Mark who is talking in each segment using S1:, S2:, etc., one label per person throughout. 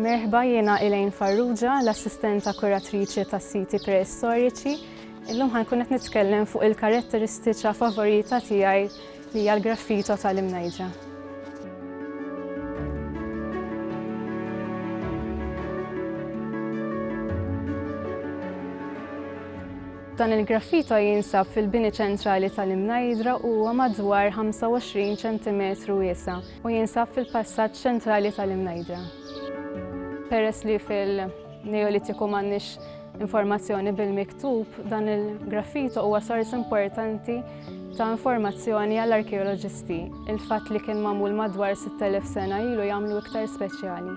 S1: Merħba jiena Elaine Farrugia, l-assistenta kuratriċi tas siti preistoriċi. Illum ħankun qed nitkellem fuq il-karatteristiċa favorita tiegħi Li hija l-graffito tal-imnejdra. Dan il-graffito jinsab fil-bini ċentrali tal-Imnajdra u huwa madwar 25 cm wiesa u jinsab fil-passaġġ ċentrali tal-Imnajdra. Peress li fil- Neolitiku m'għandniex informazzjoni bil-miktub, dan il-graffito huwa sors importanti ta' informazzjoni għall-arkeoloġisti. Il-fatt li kien magħmul madwar 6000 sena ilu jagħmlu iktar speċjali.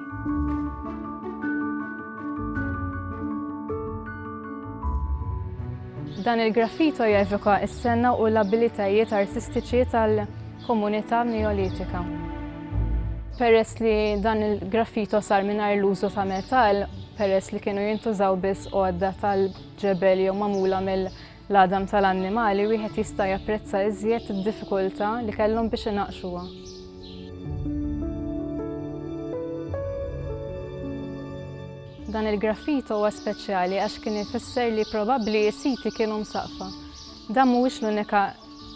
S1: Dan il-graffito jevoka s-sena u l-abilitajiet artistiċi tal- komunità Neolitika. Peress li dan il-graffito sar mingħajr l-użu ta' metall, peress li kienu jintużaw biss għodda tal-ġebel jew magħmula mill-għadam tal-annimali, wieħed jista' japprezza iżjed id-diffikultà li kellhom biex inaqqxuha. Dan il-graffito huwa speċjali għax kien ifisser li probabbli s-siti kienu msaqfa. Dan mhuwiex l-unika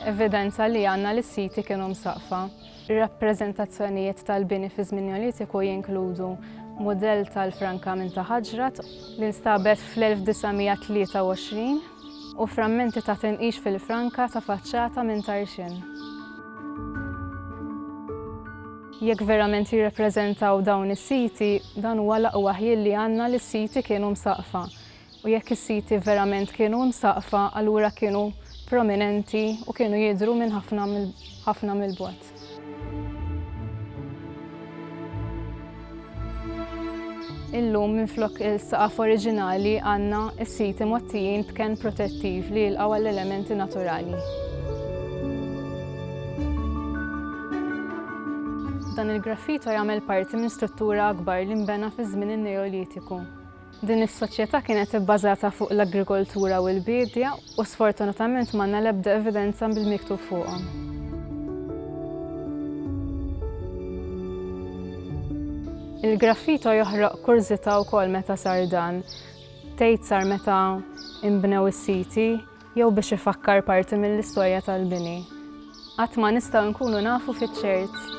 S1: Evidenza li għandna li s-siti kienu msaqqfa. Rappreżentazzjonijiet tal-bini fi żmien Neolitiku jinkludu mudell tal-franka minn ta' ħaġrat, li nstabet fl-1923, u frammenti ta' tinqix fil-franka ta' faċċata minn Tarxien. Jekk verament jirrappreżentaw dawn is-siti, dan huwa l-aqwa ħjiel li għandna li s-siti kienu msaqqfa. u jekk is-siti verament kienu msaqqfa allura kienu prominenti u kienu jidhru minn ħafna ħafna mill-bogħod. Illum minflok il-saqaf oriġinali għandna s-siti mgħottijin b'kenn protettiv li jilqgħu għall-elementi naturali. Dan il-graffito jagħmel parti minn struttura akbar li nbena fi żmien in-Neolitiku. Din is-soċjetà kienet ibbażata fuq l-agrikoltura u l-biedja u sfortunatament m'għandna l-ebda evidenza bil-miktub fuqhom. Il-graffito joħroq kurżità wkoll meta sar dan. Tgħid sar meta inbnew is-siti, jew biex ifakkar parti mill-istorja tal-bini, qatt ma nistgħu nkunu nafu fiċ-ċert.